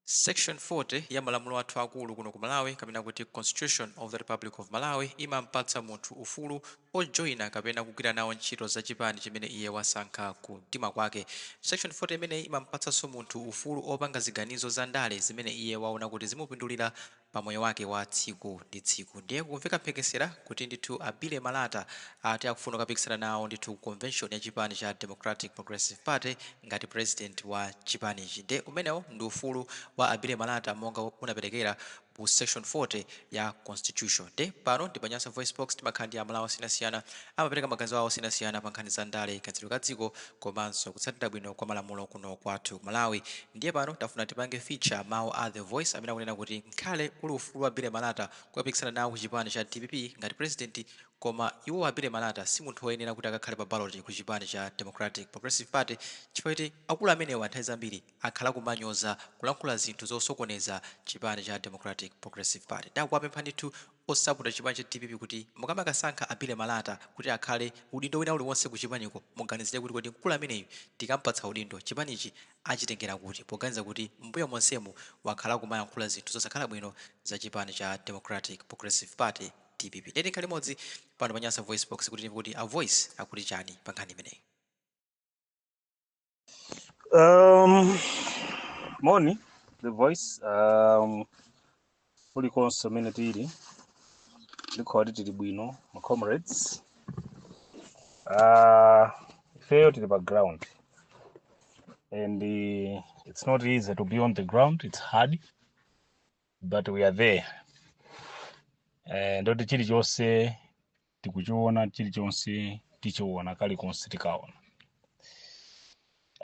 Section 40 ya malamulo athu akulu kuno ku Malawi kapena kuti Constitution of the Republic of Malawi imampatsa munthu ufulu ojoina kapena kugwira nawo ntchito za chipani chimene iye wasankha ku mtima kwake. Section 40 imeneyi imampatsanso munthu ufulu opanga ziganizo za ndale zimene iye waona kuti zimupindulira pa moyo wake wa tsiku ndi tsiku. Ndiye kukumveka mphekesera kuti ndithu a Billy Malata ati akufuna kukapikisana nawo ndithu ku convention ya chipani cha Democratic Progressive Party ngati president wa chipanichi. Ndiye umenewo ndi ufulu wa a Billy Malata monga unaperekera mu section 40 ya constitution. Ndiye pano ndi pa Nyasa VoiceBox timakhala ndi amalawi osiyanasiyana amapereka maganizo awo osiyanasiyana pa nkhani za ndale, kayendetsedwe ka dziko, komanso kutsatira bwino kwa malamulo kuno kwathu ku Malawi ndiye pano tafuna tipange feature mawu a The Voice amene akunena kuti ngakhale uli ufulu wa Billy Malata kukapikisana nawo ku chipani cha dpp ngati president koma iwo a Billy Malata si munthu oyenera kuti akakhale pa ballot ku chipani cha Democratic Progressive Party chifukwa choti akulu amenewa nthawi zambiri akhala akumanyoza, kulankhula zinthu zosokoneza chipani cha Democratic Progressive Party. Nde akuwapempha ndithu osapota chipani cha dpp kuti mukamakasankha a Billy Malata kuti akhale udindo wina uliwonse ku chipaniko muganizire kuti kodi mkulu ameneyu tikampatsa udindo chipanichi achitengera kuti poganiza kuti m'mbuyo monsemu wakhala akumayankhula zinthu zosakhala bwino za chipani cha Democratic Progressive Party, Dpp. Ndiye tikhale limodzi pano pa Nyasa VoiceBox kuti timve kuti a Voice akuti chani pa nkhani imeneyi. Um, moni the voice um, kulikonse kumene tili ndikhulupirira tili bwino ma comrades uh, ifeyo tili pa ground and uh, it's not easy to be on the ground it's hard but we are there uh, ndoti chilichonse tikuchiona chilichonse tichiona kalikonse tikaona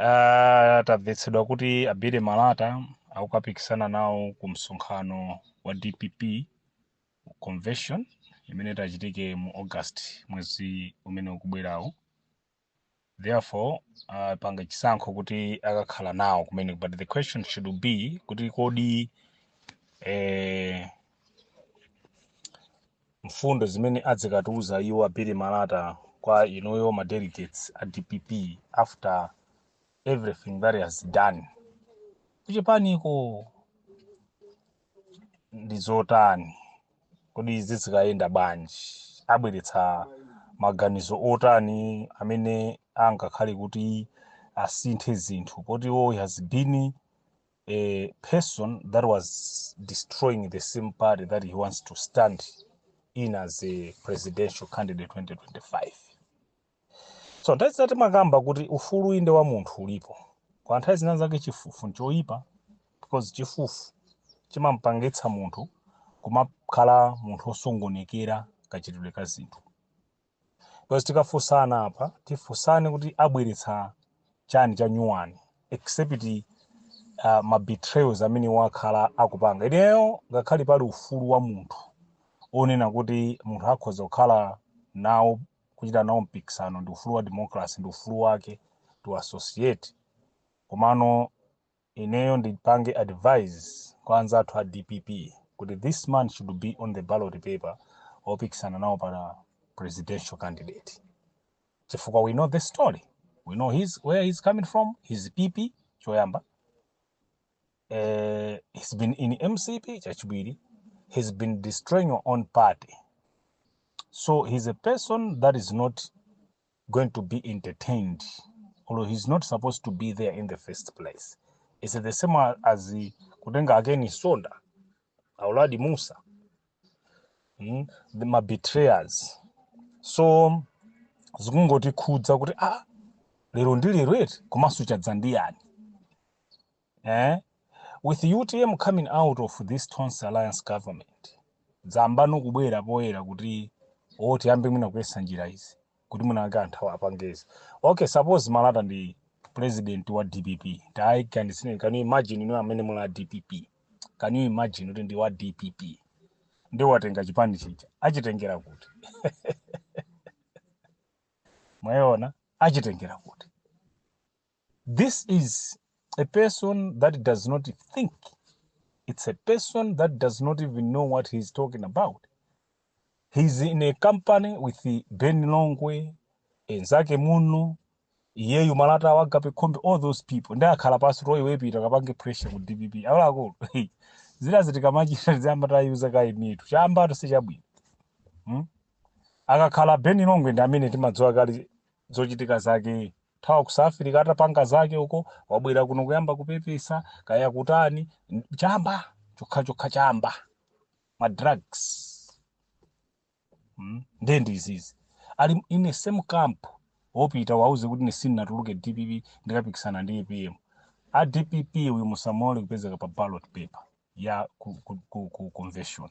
Ah, tamvetsedwa kuti a Billy Malata akukapikisana nawo ku msonkhano wa dpp convention imene itachitike mu august mwezi umene ukubwerawo therefore apanga uh, chisankho kuti akakhala nawo kumene but the question should be kuti kodi eh, mfundo zimene adzikatiuza iwo a Billy Malata kwa inuyo ma delegates a dpp after everything that he has done kuchipaniko ndi zotani? Kodi zizikayenda bwanji? Abweretsa maganizo otani amene angakhale kuti asinthe zinthu poti iwo he has been a person that was destroying the same party that he wants to stand in as a presidential candidate 2025. So nthawi zina timakamba kuti ufulu inde wa munthu ulipo kwa nthawi zina zake chifufu nchoyipa because chifufu chimampangitsa munthu kumakhala munthu osokonekera kachitidwe ka zinthu because tikafunsana apa tifunsane kuti abweretsa chani cha nyuwani except uh, ma betrayals amene wakhala akupanga ineyo ngakhale pali ufulu wa munthu onena kuti munthu akhoza kukhala nawo kuchita nawo mpikisano ndi ufulu wa democracy ndi ufulu wake to associate komano ineyo ndipange advise kwa anzathu a dpp kuti this man should be on the ballot paper opikisana nawo pa presidential candidate chifukwa we know the story we know his, where he's coming from his pp choyamba Uh, he's been in MCP, Chachibiri. He's been destroying your own party. So he's a person that is not going to be entertained, although he's not supposed to be there in the first place. It's the same as the Kudenga again is Sonda, Auladi Musa, mm, the my betrayers. So zikungotikhudza kuti ah lero ndi lero eti komanso chadzandiyani Eeh with utm coming out of this Tonse alliance government zayambano kubwera poyera kuti or tiyambe mwina kuyesa njira izi kuti mwina wake anthu awa apange izi. Okay suppose Malata ndi president wa dpp tayiganizireni can you imagine inu amene muli a dpp can you imagine kuti ndi wa dpp ndi watenga chipani chija achitengera kuti mwayiona achitengera kuti This is a person that does not think. It's a person that does not even know what he's talking about. He's in a company with Ben Longwe, anzake muno, iyeyu Malata Agape Khombe, all those people. Ndiye akhala pansi oo iwe pita kapange pressure ku DPP. Akuluakulu. Zinazi tikamachita tiziyamba tayuza kaye mitu. Chambatu sichabwino. Hmm? Akakhala Ben Longwe ndi amene timadziwa kale zochitika zake thawa ku South Africa atapanga zake uko wabwera kuno kuyamba kupepesa kaya kutani n- chamba chokha chokha chamba ma drugs mm. ndiye ndi izizi ali in the same camp oo pita uwauze kuti ine sinnatuluke dpp ndikapikisana ndi apm a dpp uyu musamulole kupezeka pa ballot paper ya ku, ku, ku, ku convention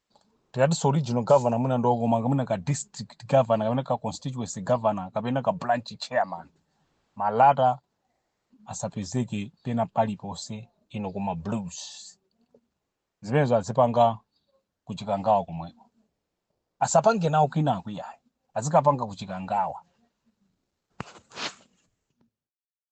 tikatinso regional governor mwina ndi okomanga mwina ka district governor kapena ka constituency governor kapena ka branch chairman malata asapezeke pena paliponse kuno kuma blues zimenezo azipanga kuchikangawa komweko asapange nawo kwinaku ayi azikapanga kuchikangawa